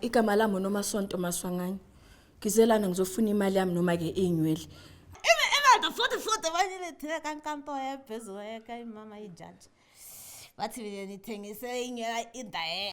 igama lami unomasonto maswanganye ngizelana ngizofuna imali yami noma-ke iy'nywele imali futhi futhi banyilethile kankampo yaphezulu yeka imama ijaji bathi mina nithengise inywela indaye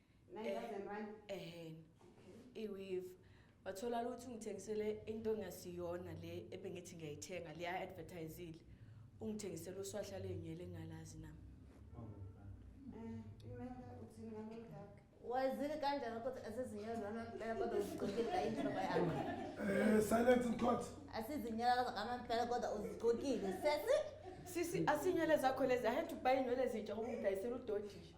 9000 rand eh iweave wathola ukuthi ungithengisele into engasiyona le ebengithi ngiyayithenga le advertisile ungithengisela uswahla lenyele ngalazi nami wazile kanjani ukuthi asizinyazana impela kodwa uzigcokile ayinhloko yakho eh silence in court asizinyalaza ngamampela kodwa uzigcokile sesi sisi asinyele zakho lezi i had to buy inwele ezintsha ngoba ngidayisela udodisha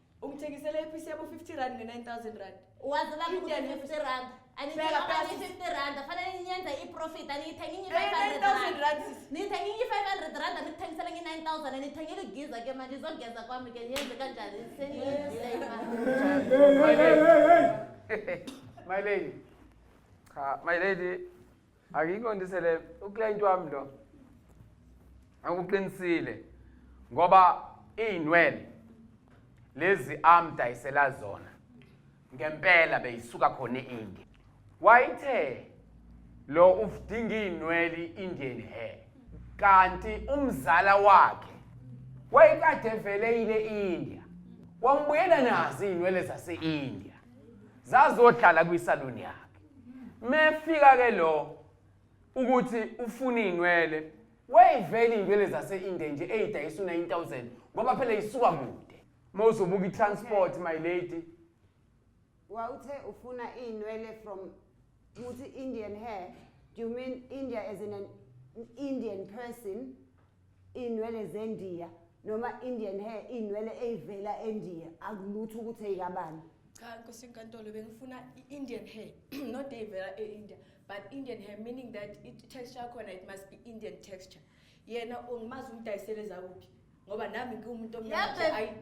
ungithengisela iphisi yabo 50 rand nge-9000 rand wazi lami ukuthi Indebe. 50 rand Bheka, bheka, anithenga sisi. 50 rand fanele ninyenze i-profit aniyithengi inye Eh, 500 9000 rand rand sis. nithengi inye 500 rand anithengisela nge 9000 anithengeli giza ke manje izogeza kwami ke niyenze kanjani seniyidile imali My lady. My lady. Cha, my lady, Angiqondisele uclient wami lo. Akuqinisile ngoba izinwele lezi amdayisela zona ngempela beyisuka khona eIndia. Wayithe lo ufdinga izinwele iIndian hair kanti umzala wakhe wayekade vele ile India wambuyela nazo izinwele zaseIndia zazohlala kwisaluni yakhe mefika ke lo ukuthi ufuna izinwele wayivela izinwele zase-India nje eyidayisa u-9000 ngoba phela isuka kude mawuzobuka i-transport my lady wawuthe ufuna izinwele from uthi Indian hair do you mean India as in an Indian person Inwele zendiya noma Indian hair inwele eyivela endiya akulutho ukuthi eyikabani. Cha nkosi inkantolo bengifuna i-Indian hair not eyivela e-India but Indian hair meaning that i-texture yakhona it must be Indian texture. Yena ungimazi umdayisele zakuphi ngoba nami ngiwumuntu omnyama nje, Yabhe- ayi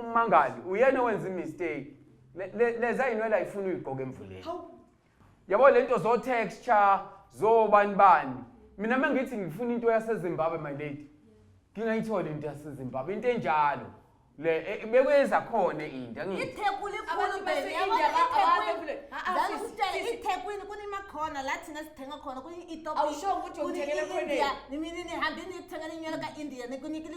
ummangali uyena owenza imistake leza yinwele ayifuna uyigqoke emvuleni yabo lento zo texture zo bani bani mina mangithi ngifuna into yaseZimbabwe my lady ngingayitholi into yaseZimbabwe into enjalo le e, bekwenza khona into angithi ithekwini ikhulu bese ithekwini kunemakhona la thina sithenga khona kuni-ethiopia awusho ukuthi uthengele khona nimi nini hambini niyokuthenga inywele ka-india nikunikile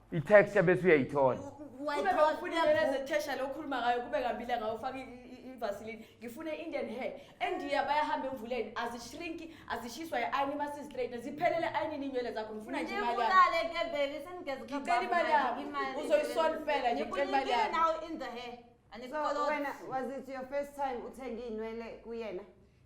i-text yabese uyayithola wayithola okhuluma ngayo kube kabile ngayo ufaka ivaseline ngifune indian hair endiya bayahamba emvuleni azishrinki azishiswa i-ayini masizistraight ziphelele ayinini inywele zakho ngifuna nje imali ngicela imali yami uzoyisona impela nje ngicela imali yami now in the hair and it's so, when was it your first time uthenge inwele kuyena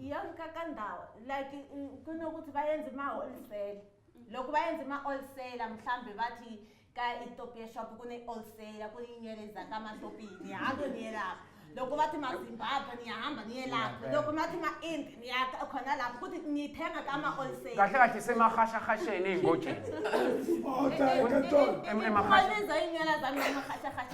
Young kakandawo like kunokuthi bayenze ma wholesale. Lokhu bayenze ma wholesale mhlambe bathi ka Ethiopia shop kune wholesale kuyinyele zakamatopini. Hado niye lapho. Lokhu bathi ma Zimbabwe niyahamba niye lapho. Lokhu bathi ma Ind niya khona lapho kuthi nithenga kama wholesale. Kahle kahle semahasha hasheni ingojeni. Oda enkantolo. Em- emahasha. Khona izoyinyela zami emahasha hasha.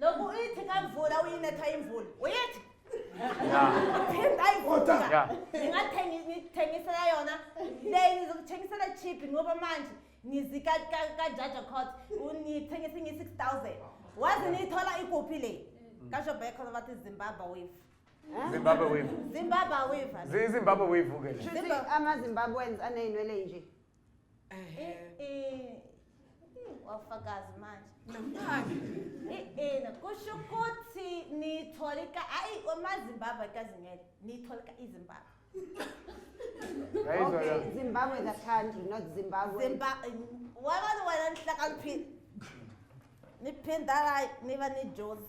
Lokhu uyithi kamvula uyinetha imvula. Uyithi Yeah. phinda Oda. imvula. Yeah. Ningathengi nithengisela yona. Le ngizokuthengisela cheap ngoba manje ngizika ka- ka Jaja Court unithengisa ngi 6000. Wazi nithola ikuphi le? Kasho back khona bathi Zimbabwe wave. Zimbabwe wave. Zimbabwe wave. Zi- Zimbabwe wave ke le. Shuthi amazimbabweans aney'nwele nje Eh eh. Wafakazi manje. Namanje. Eh eh nakusho ukuthi nitholika ayi omazimbabwe kazingele nitholika izimbabwe. Ngayizwa Okay, Zimbabwe the country, not Zimbabwe. Zimbabwe wabani wena nihlakaniphile. Niphindala niba nijozi.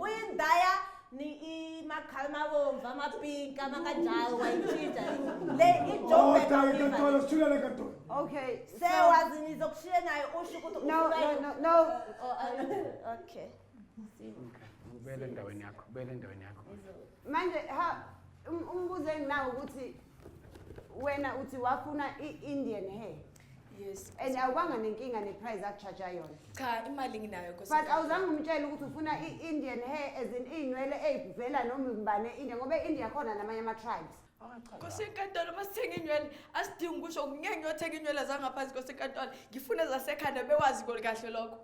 Uyindaya ni imakhala mabomvu amapinki amakajalo wayitshintsha le Oda inkantolo sithulele enkantolo. Okay. So, sewazi nizokushiya naye usho ukuthi no, ufuna no, yini. no, no. Oh, ah, Okay. Ubuyele endaweni yakho, ubuyele endaweni yakho. Manje ha um- umbuzo enginawo ukuthi wena uthi wafuna i-Indian hair. Yes. and awubanga nenkinga neprice akujaja yona Cha imali nginayo but nkosikazi. awuzange umtshele ukuthi ufuna i-indian hair as in iy'nwele ey'vela noma ubani e-india ngoba e-india khona namanye ama-tribes Nkosi enkantolo uma sithenga inywele asidingi ukusho ngeke ngiyothenga inywele zangaphansi nkosi enkantolo ngifuna zasekhanda bewazi kahle lokho.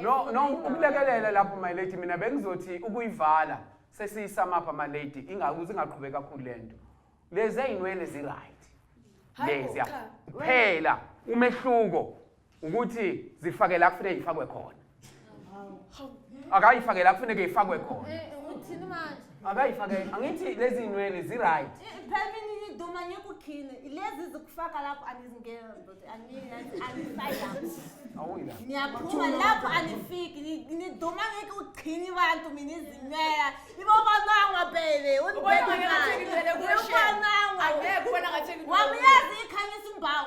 no no ukulekelela lapho my lady mina bengizothi ukuyivala sesiyisamapha my lady ingaku zingaqhubeki kakhulu lento lezi ezinwele zi right lezi ya phela umehluko ukuthi zifake la kufanele ifakwe khona akayifake la kufanele ifakwe khona eh, eh, uthini manje akayifake angithi lezi nywele zi-right phela mina iduma ngikukhile lezi zikufaka lapho anizingeni ndoda angifayapi awuyila niyaphuma lapho anifiki Ni- niduma ngeke uqhini abantu mina izinwela ibobanangwa bebe Ubona ngathi ngilele kuwe, Shem. Angeke ubona ngathi ngilele kuwe. wamyazi ikhanyisa umbawu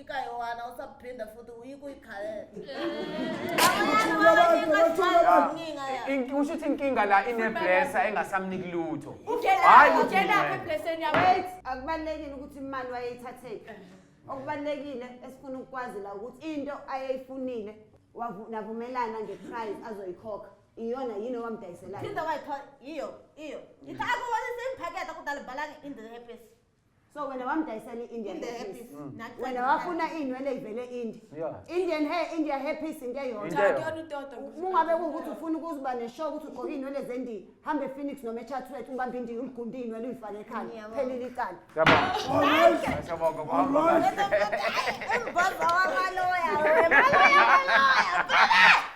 ikayowana usaphinda futhi uyike uyikhalela Inki- usho ukuthi inkinga la ineblesa engasamniki lutho Hhayi, uthi mina. wait akubalulekile ukuthi imali wayeyithatheni okubalulekile esifuna ukukwazi la ukuthi into ayeyifunile wavu- navumelana ngeprice azoyikhokha iyona yini owamdayiselayo phinda wayithola iyo iyo ithi akubonisa imphaketha kudala bhalange in the epesi so wena wamdayisela i-indian Inde hair hair piece. piece. Mm. Nathi wena sangena- wafuna iy'nwele ivele indi Yeah. indian hair india hair piece into eyodwa Into Cha, eyodwa. kuyona utoto. mungabe kuwukuthi ufuna ukuziba neshow ukuthi ugqoke iy'nwele zendiya hambe ephoenix noma echathulet ubambe indiya uligunde iy'nwele uyifake ekhanda Ngiyabonga. phelile icala Siyabonga. Siyabonga kuhamba kahle. Umboza wamaloya wemaloya wamaloya.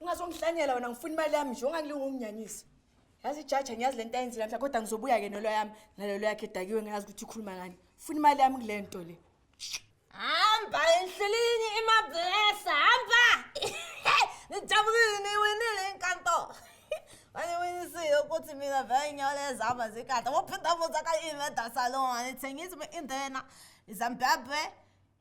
ungazongihlanyela wena ngifuna imali yami nje ongangilunga unginyanyisa yazi ijaja ngiyazi le nto ayenzile mhla kodwa ngizobuya-ke nolo yami nalolo yakhe edakiwe ngayazi ukuthi ikhuluma ngani funa imali yami kule nto le hamba enhlelini imablesa hamba nijabulile niwinile inkanto waniwinisile ukuthi mina vele inyawo lezama zikade wophinda muza ka-inveda salon anithengisi be-indena izambabwe